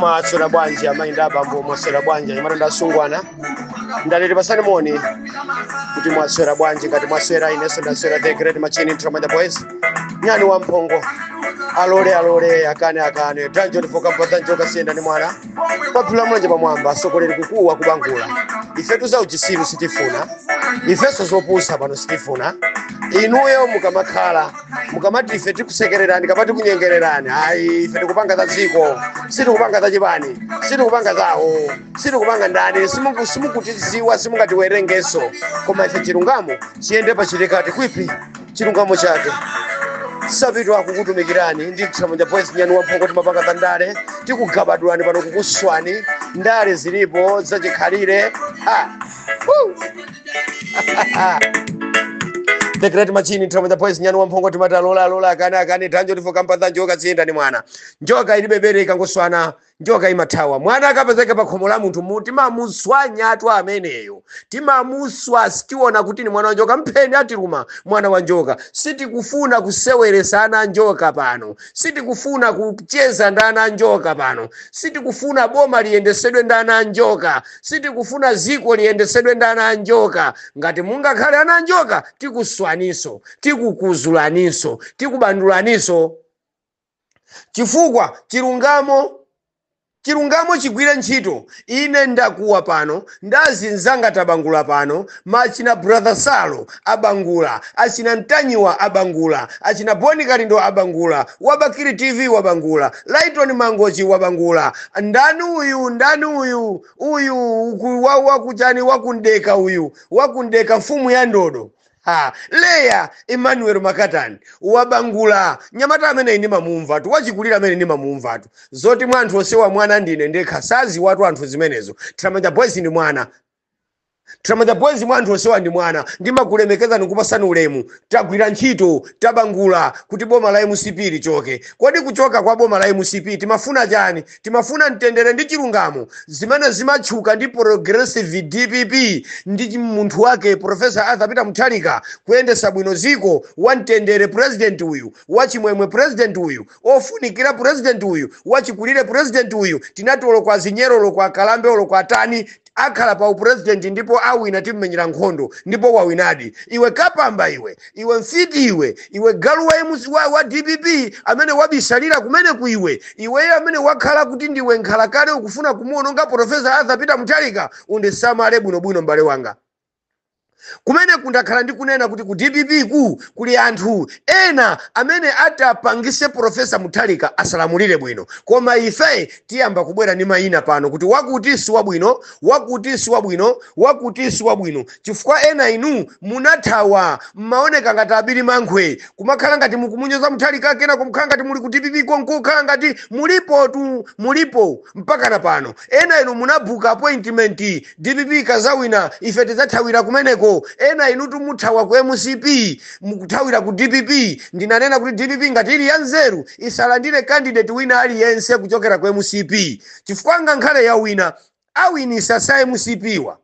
mwaswera bwanji amayi ndi abambo mwaswera bwanji anyamata ndi asungwana ndale tipasane moni kuti mwaswera bwanji ngati mwaswera inenso ndaswera the great machine tramanja boys nyani wa mphongo alole alole akane akane tanjo ndipoka mpata njoka siyenda ndi mwana Kupatula mulanje pamwamba sokoleri kukuwa kubangula. Ifetu za uchisiru sitifuna. Ifeso zopusa pano sitifuna. Inuyo mukamakhala mukamati ife tikusekererani kapena tikunyengererani ayi ife tikupanga za dziko sitikupanga za chipani sitikupanga zawo sitikupanga ndani simuku- simukutiziwa simungatiwerengeso koma ife chilungamo chiyende pachitikati kwipi chilungamo chake Sapitwa akukutumikirani ndi tramanja boys nyani wamphongo timapanga za ndale tikugabadulani pano kukuswani ndale zilipo zachikhalire ha Woo! The Great Machine Tramanja Boys nyani wamphongo timati alole alole akane akane tanjo tifoka mpata njoka siyenda ni mwana njoka ilibe bere ikangoswana njoka imathawa mwana akapezeka pa khomo la munthu timamuswanyatu ameneyo timamuswa sitiona kuti ni mwana wa njoka mpheni atiluma mwana wa njoka sitikufuna kuseweresa ana a njoka pano sitikufuna kucheza ndi ana a njoka pano sitikufuna boma liyendesedwe ndi ana a njoka sitikufuna ziko liyendesedwe ndi ana a njoka ngati mungakhale ana a njoka tikuswaniso tikukuzulaninso tikubandulaninso chifukwa chilungamo, chilungamo chigwire ntchito. Ine ndakuwa pano, ndazi nzanga tabangula pano, ma achina brother Salo abangula, achina Ntanyiwa abangula, achina Boni Kalindo abangula, Wabakiri TV wabangula, Lighton Mangochi wabangula, ndani uyu, ndani uyu, uyu uku- wa- wakuchani wakumdeka uyu, wakumdeka mfumu ya ndodo ha leya emmanuel makatani wabangula nyamata ameneyi ndimamumvatu wachikulira amene ndimamumvatu zoti mwa anthu onsewa mwana ndine ndekha saziwatu anthu zimenezo tramanja boys ndi mwana tramanja boys mwa anthu onsewa ndi mwana ndimakulemekezani kupasani ulemu tagwira ntchito tabangula kuti boma la mcp lichoke kodi kuchoka kwa boma la mcp timafuna chani Timafuna mtendere ndi chilungamo zimene zimatchuka ndi progressive dpp ndi chi- munthu wake Professor Arthur Peter Mutharika kuyendesa bwino ziko wa mtendere president uyu wa chimwemwe president uyu ofunikira president uyu wachikulire president uyu tinati oloko azinyero oloko akalambe oloko atani akhala pa upresident ndipo awina timmenyera nkhondo ndipo wawinadi iwe kapamba iwe iwe mfiti iwe iwe galu wa, MC wa, wa dpp amene wabisalira kumeneku iwe iweyo amene wakhala kuti ndiwe nkhalakale ukufuna kumuononga profesa arthur peter mutharika undisamale bwinobwino m'bale wanga kumeneku ndakhala ndikunena kuti ku dpp ku kuli anthu ena amene atapangise profesa mutharika asalamulire bwino koma ife tiyamba kubwera ndi mayina pano kuti wakuti si wabwino wakuti si wabwino wakuti si wabwino chifukwa ena inu munathawa mmaoneka ngati abirimankhwe kumakhala ngati mukumunyoza mutharika kena kumkhala ngati muli ku dpp konko kukhala ngati mulipotu mulipo mpakana pano ena inu munabuka appointment Dpp ikazawina ife tidzathawira kumeneko ena inutu muthawa ku mcp mukuthawira ku dpp ndinanena kuti dpp ngati ili yanzeru isalandire candidate wina aliyense kuchokera ku mcp chifukwa ngankhale yawina awinisa sa mcp wa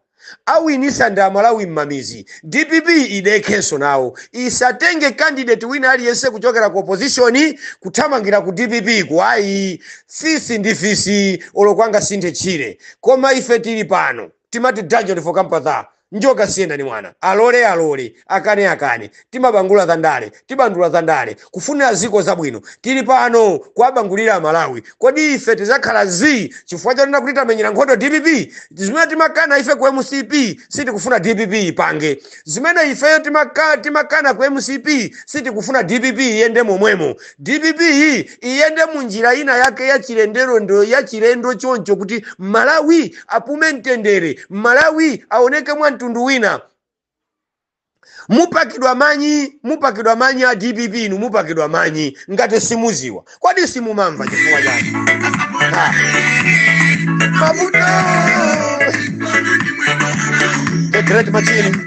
awinisa ndi amalawi mmamizi dpp idekhenso nawo isatenge candidate wina aliyense kuchokera ku opposition kuthamangira ku dpp ku ayi fisi ndi fisi oloko angasinthe tchire koma ife tili pano timati dungeon for kampa tha njoka siyenda ni mwana alole alole akane akane timabangula za ndale tibandula za ndale kufunira ziko zabwino tili pano kuwabangulira amalawi kodi ife tizakhala zii chifukwa chonena kuti tamenyera nkhondo dpp zimene timakana ife ku mcp sitikufuna dpp ipange zimene ifeyo timaka, timakana ku mcp sitikufuna dpp iyende momwemo Dpp yi iyende mu njira ina yake ya chilendolendo ya chilendo choncho kuti Malawi apume mtendere, Malawi aoneke mwa mtundu wina. Mupakidwa manyi, mupakidwa manyi a DPP inu mupakidwa manyi ngati simuziwa. Kodi simumamva chifukwa chani? Ha. Mavuto. The great machine.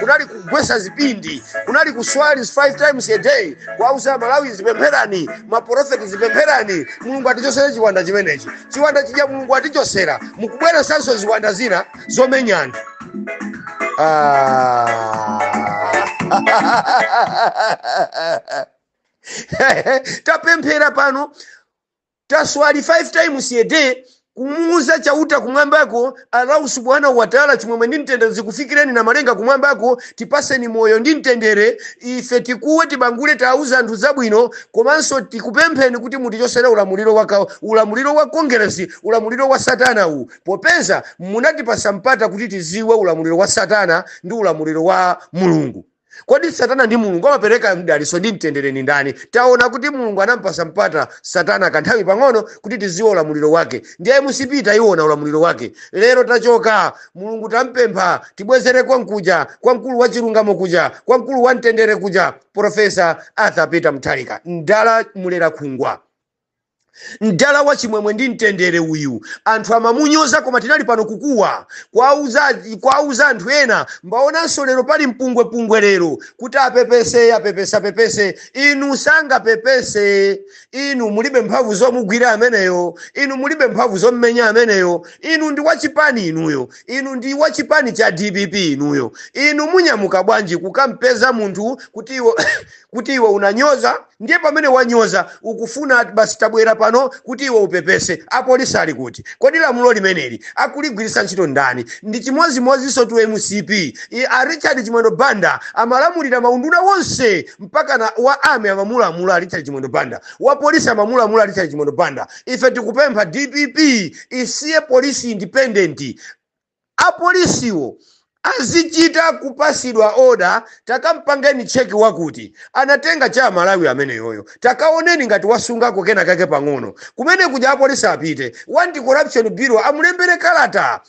kunali kugwesa zipindi kunali kuswali five times a day kuwauza amalawi zipempherani maprofeti zipempherani mulungu atichosere chiwanda chimenechi chiwanda chija mulungu atichosera mukubweresanso ziwanda zina zomenyana ah. tapemphera pano Taswali 5 times a day kumuuza Chauta kumwambako Allahu subhanahu wa ta'ala chimwemwe ndi mtendere zikufikireni namalenga kumwambako tipaseni moyo ndi mtendere ife tikuwe tibangule tauza anthu zabwino komanso tikupempheni kuti mutichosere ulamuliro waka ulamuliro wa kongeresi ulamuliro wa satana uwu popeza munatipasa mpata kuti tiziwe ulamuliro wa satana ndi ulamuliro wa mulungu kodi satana ndi mulungu amapereka mdaliso ndi mtendere ni ndani taona kuti mulungu anampasa mpata satana kanthawi pang'ono kuti tiziwe ulamuliro wake ndiye mcp tayiona ulamuliro wake lero tachoka mulungu tampempha tibwezere konkuja kwa mkulu wa chilungamo kuja kwa mkulu wa mtendere kuja profesa arthur peter mutharika mdala mulera khungwa mdala wa chimwemwe ndi mtendere uyu anthu amamunyoza koma tinali pano kukuwa kuwauza anthu ena ndaonanso lero pali mpungwepungwe lero kuti apepese apepese apepese inu sangapepese inu mulibe mphamvu zomugwira ameneyo inu mulibe mphamvu zommenya ameneyo inu ndi wachipani inuyo inu ndi wachipani cha dpp inuyo inu munyamuka bwanji kukampeza munthu kuti iwo kuti iwe unanyoza ndiye pamene wanyoza ukufuna basi tabwera pano kuti iwe upepese apolisi ali kuti kodi lamulo limeneli akuligwiritsa ntchito ndani ndi chimodzimodzinso tu mcp a richard chimwendo banda amalamulira maunduna wonse mpaka wa army amamulamula richard chimwendo banda wa polisi amamulamula richard chimwendo banda ife tikupempha dpp isiye polisi independent apolisiwo azichita kupasidwa order takampangeni check wakuti anatenga cha amalawi ameneyoyo takaoneni ngati wasungako kena kake pang'ono kumene kuja apolisi apite a anti corruption bureau amulembere kalata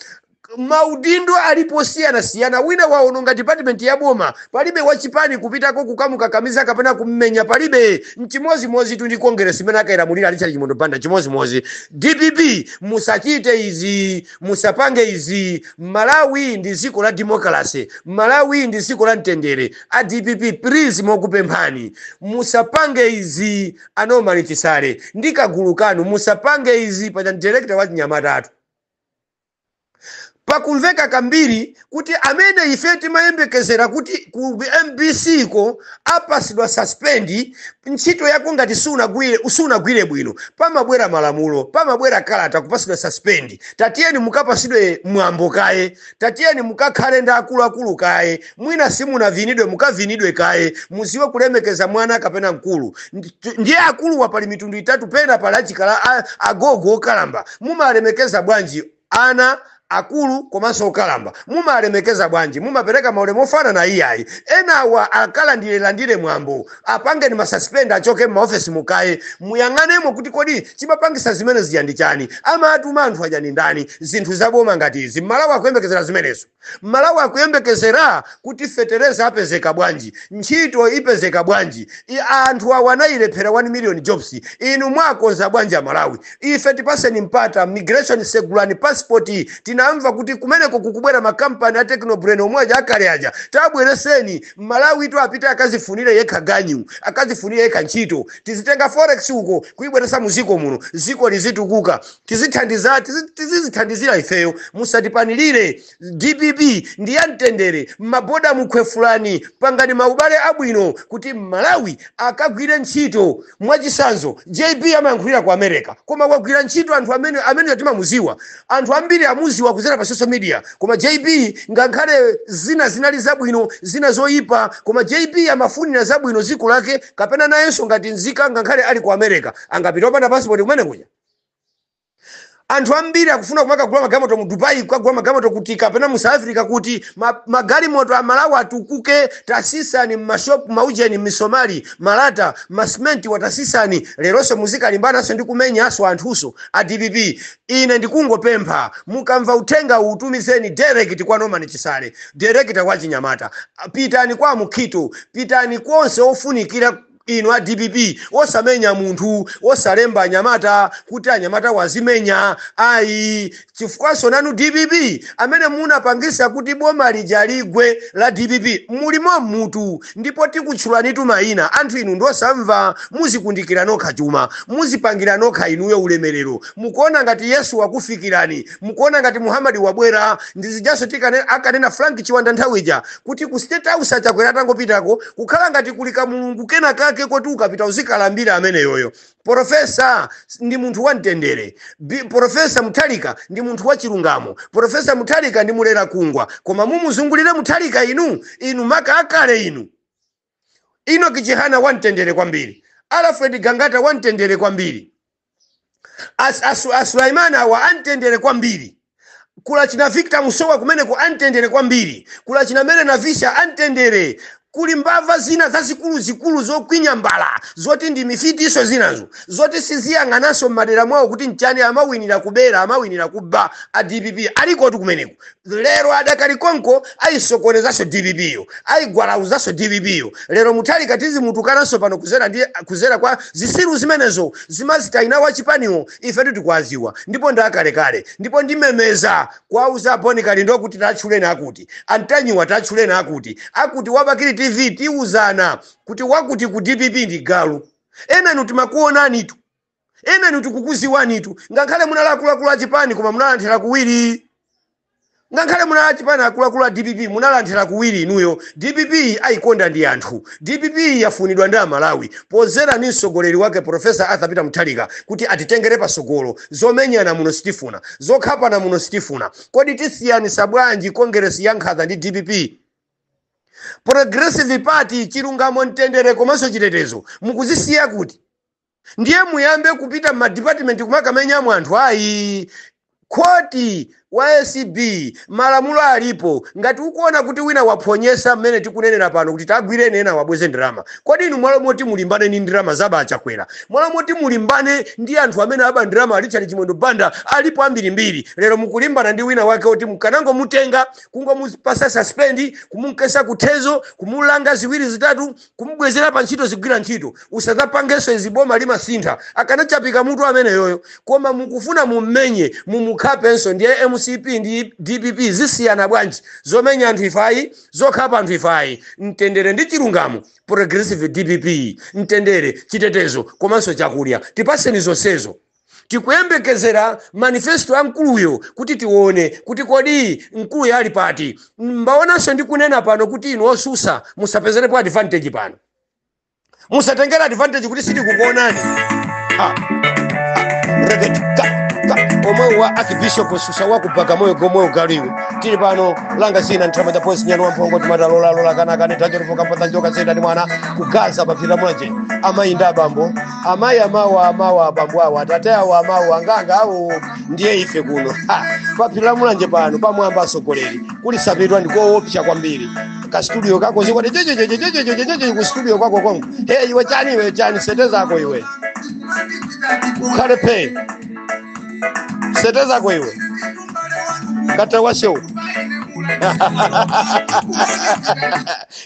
maudindo alipo osiyanasiyana wina waononga department ya boma palibe wachipani kupitako kukamukakamiza kapena kummenya palibe nchimozimozi tu ndi congress imene akailamulira richard chimwendo banda chimozimozi dpp musachite izi musapange izi Malawi ndi ziko la democracy Malawi ndi ziko la mtendere a dpp please tikupemphani musapange izi a Norman Chisale ndi kagulu kanu musapange izi paja director wa chinyamatatu pakumveka kambiri kuti amene ife timayembekezera kuti ku mbc ko apasidwa suspend ntchito yako ngati sunagwire bwino pamabwera malamulo pamabwera kalata kupasidwa suspend tatiyeni mukapasidwe mwambo kaye tatiyeni mukakhale ndi akuluakulu kaye mwina simunavinidwe mukavinidwe kaye muziwe kulemekeza mwana kapena mkulu ndiye akuluwa pali mitundu itatu pena pali achikala agogo okalamba mumalemekeza bwanji ana, akulu komanso okalamba mumalemekeza bwanji? Mumapereka maulemu ofanana? Iyayi enawa akalandirelandire mwambo apangeni ma suspend achoke mma office mukaye muyang'anemo kuti kodi chimapangisa zimene zija ndi chani? Amaatuma anthu aja ndi ndani? Zinthu za boma ngati izi mmalawi akuyembekezera zimenezo? mmalawi akuyembekezera kuti fetereza apezeka bwanji ntchito ipezeka bwanji anthu awa anayilephera 1 million jobs inu mwakonza bwanji amalawi ife tipaseni mpata migration segulani passport tinamva kuti kumeneko kukubwera makampani a technobrain omwe aja akale aja tabwereseni mmalawi tu apite akazifunire yekha ganyu akazifunire yekha ntchito tizitenga forex uko kuyibweresa mu ziko muno ziko lizitukuka tizithandiza tizi- tizizithandizira ifeyo musatipanilire dpp ndi ya mtendere m'maboda mukhwefulani pangani maubale abwino kuti m'malawi akagwire ntchito mwachisanzo jb amayankhulira ku america koma wagwira ntchito anthu amene amene timamuziwa anthu ambiri amuziwa kuzera pa social media koma jb ngakhale zina zinali zabwino zina zoyipa koma jb amafunira zabwino dziko lake kapena nayenso ngati nzika ngakhale ali ku america angapite opanda pasipoti kumene kuja anthu ambiri akufuna kumakagula magalimoto mu dubai kukagula magalimoto kuti kapena mu south africa kuti ma- magalimoto a malawi atukuke tasisani mmashopu maujeni misomali malata masimenti watasisani leronso muzikalimbananso ndi kumenyanso anthunso a dpp ine ndikungopempha mukamva uthenga uwu tumizeni direct kwa norman chisale direct kwa chinyamata pitani kwa mukhito pitani konse ofunikira Inu a dpp osamenya munthu, osalemba anyamata kuti anyamatawo azimenya ayi chifukwanso nanu dpp amene munapangisa kuti boma lija ligwe la dpp muli momutu ndipo tikutchulanitu maina anthu inu ndiosamva muzikundikira nokha chuma muzipangira nokha inuyo ulemelero mukuona ngati Yesu wakufikirani mukuona ngati muhamadi wabwera ndizijaso ti akanena frank chiwanda nthawi ija kuti ku state house achakwera atangopitako kukhala ngati kuli kamulungu kena kake koti ukapita uzikalambira ameneyoyo profesa ndi munthu wa mtendere profesa mutharika ndi munthu wa chilungamo profesa mutharika ndi mulera kungwa koma mumuzungulire mutharika inu inu maka akale inu Inoki Chihana wamtendere kwambiri. Alfred Gangata wamtendere kwambiri. As, as, as Sulaiman awa amtendere kwambiri. Kula china Victor Musowa kumeneko amtendere kwambiri. Kula china Mary Navicha amtendere. Kuli mbava zina zazikulu zikulu zokwinya mbala zoti ndi mifitiso zinazo zoti siziyang'ananso m'madera mwawo kuti nchani amawinira kubera amawinira kuba a dpp alikotu kumeneko Lero adakali konko ayisokonezanso dpp yo, ayigwalauzanso dpp yo, lero Mutharika tizimutukananso pano kuzera kwa zisiru zimenezo zimazitaina wa chipani wo ifetu tikuwaziwa ndipo ndi akalekale ndipo ndimemeza kuwauza a Boni Kalindo kuti tatchuleni akuti, a Ntanyiwa tatchuleni akuti akuti wa Bakili TV tiuzana kuti wakuti ku dpp ndi galu ena inu timakuonanitu. ena inu tikukuziwanitu ngakhale munali akuluakulu a chipani koma munalanthera kuwiri ngakhale munali achipani akuluakulu a dpp munalanthera kuwiri inuyo dpp ayikonda ndi anthu dpp yafunidwa ndi amalawi pozera ndi mtsogoleri wake profesa arthur peter mutharika kuti atitengere pasogolo zomenyana muno sitifuna zokhapana muno sitifuna kodi tisiyanisa bwanji kongeresi ya nkhaza ndi dpp progressive party chilungamo mtendere komanso chitetezo mukuzisiya kuti ndiye muyambe kupita madipatimenti kumakamenyamo anthu ayi khoti wa acb malamulo alipo ngati ukuona kuti wina waphonyesa mmene tikunenera pano kuti tagwireni ena wabweze ndalama kodi inu mwalo moti mulimbane ndi ndirama zaba achakwera mwalo moti mulimbane ndi anthu amene aba ndirama a richard chimwendo banda alipo ambirimbiri lero mukulimbana ndi wina wake oti mukanangomutenga kungomupasa suspendi kumunkesa kuthezo kumulanga ziwiri zitatu kumubwezera pa ntchito zigwira ntchito usadzapangenso izi boma limasintha akanachapika mutu ameneyoyo koma mukufuna mummenye mumukhapenso ndiye mcp ndi dpp zisiyana bwanji zomenya anthu ifayi zokhapa anthu ifayi mtendere ndi chilungamo progressive dpp mtendere chitetezo komanso chakulya tipaseni zonsezo Tikuyembekezera manifesto ya mkuluyo kuti tione kuti kodi mkuluyo ali pati. Mbaonanso ndikunena pano kuti inu otsutsa musapezerepo advantage pano. Musatengere advantage kuti sitikukuonani. Ha. Reggae, ka, ka. Omwe wa Archbishop Susa wa kupanga moyo Gomoyo Galiwe. Tili pano langa zina ntrama cha polisi Nyani wa Mphongo timata lola lola kana kane tacho lipo kapata njoka zenda ndi mwana kugaza paphiri mulanje. Amayi ndi abambo amayi amawo amawo abambo awo atate awo amawo anganga awo ndiye ife kuno Ha! pa phiri la mulanje pano pamwamba atsogoleri kuli sapitwa ndikoopsa kwambiri ka studio kako zikwati jejejejejejejejeje ku studio kwako konko he iwe chani iwe chani sete zako iwe ukhale phe sete zako iwe kata washewu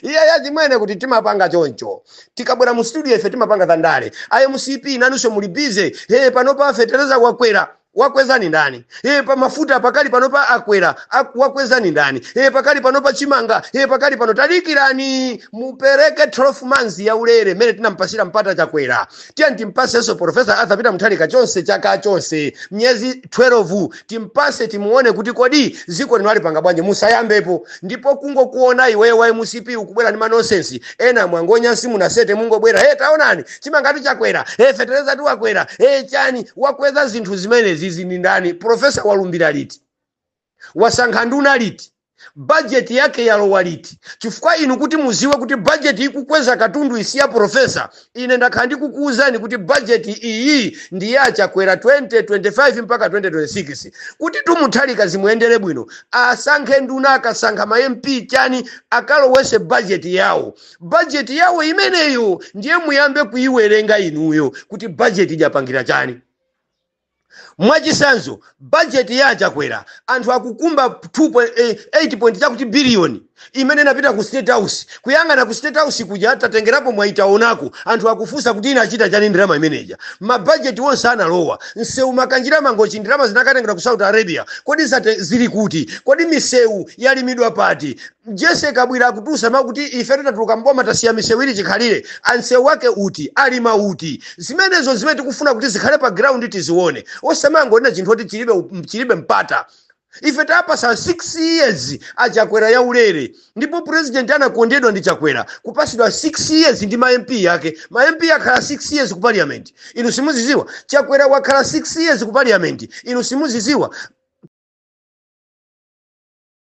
iye yachimwene kuti timapanga choncho tikabwera mu studio ife timapanga za ndale a mcp nanunso muli bize he panopa fetereza wakwera wakwezani ndani e pa mafuta pakali panopa akwera ak- wakwezani ndani e pakali panopa chimanga e pakali pano tadikirani mupereke 12 months ya ulere mmene tinampasira mpata chakwera tiyani timpasenso profesa arthur peter mutharika chonse chaka chonse miyezi 12 timpase timuone kuti kodi ziko lino alipanga bwanji musayambepo ndipo kungokuona iweyo wa mcp ukubwera ndi manonsensi ena mwangonya simunasete mungobwera he taonani chimangatu chakwera he fetereza tu wakwera he chani wakweza zinthu zimenezizi ndi ndani profesa walumbira liti wasankha nduna liti budget yake yalowa liti chifukwa inu kuti muziwe kuti budget ikukweza katundu iyi si ya profesa ine ndakhala ndikukuwuzani kuti budget iyi ndi ya chakwera 2025 mpaka 2026 kuti tumutharika zimuyendere bwino asankhe nduna akasankha ma mp chani akalowese budget yawo budget yawo imeneyo ndiye muyambe kuyiwerenga inuyo kuti budget ijapangira chani Mwachisanzo budget ya a Chakwera anthu akukumba 2 point, eh, 8 point chakuti billion imene inapita ku state house kuyang'ana ku state house kudya tatengerapo mwayi taonako anthu akufunsa kuti inachita chani ndalama imeneja mabajeti onse analowa msewu Makanjira Mangochi ndalama zinakatengedwa ku Saudi Arabia kodi zate, zili kuti kodi misewu yalimidwa pati Jesse Kabwila akutulusa mau kuti ifetu tatuluka m'boma tasiya misewu ili chikhalire. A msewu wake uti? Alima uti? Zimenezo n'zimene tikufuna kuti zikhale pa ground tizione. Osamangonena chinthu oti chilibe, chilibe mpata. Ife tapasa 6 years a Chakwera yaulere ndipo president anakondedwa ndi Chakwera kupasidwa 6 years ndi ma MP ake. Ma MP akhala 6 years ku parliament. Inu simuziziwa? Chakwera wakhala 6 years ku parliament. Inu simuziziwa?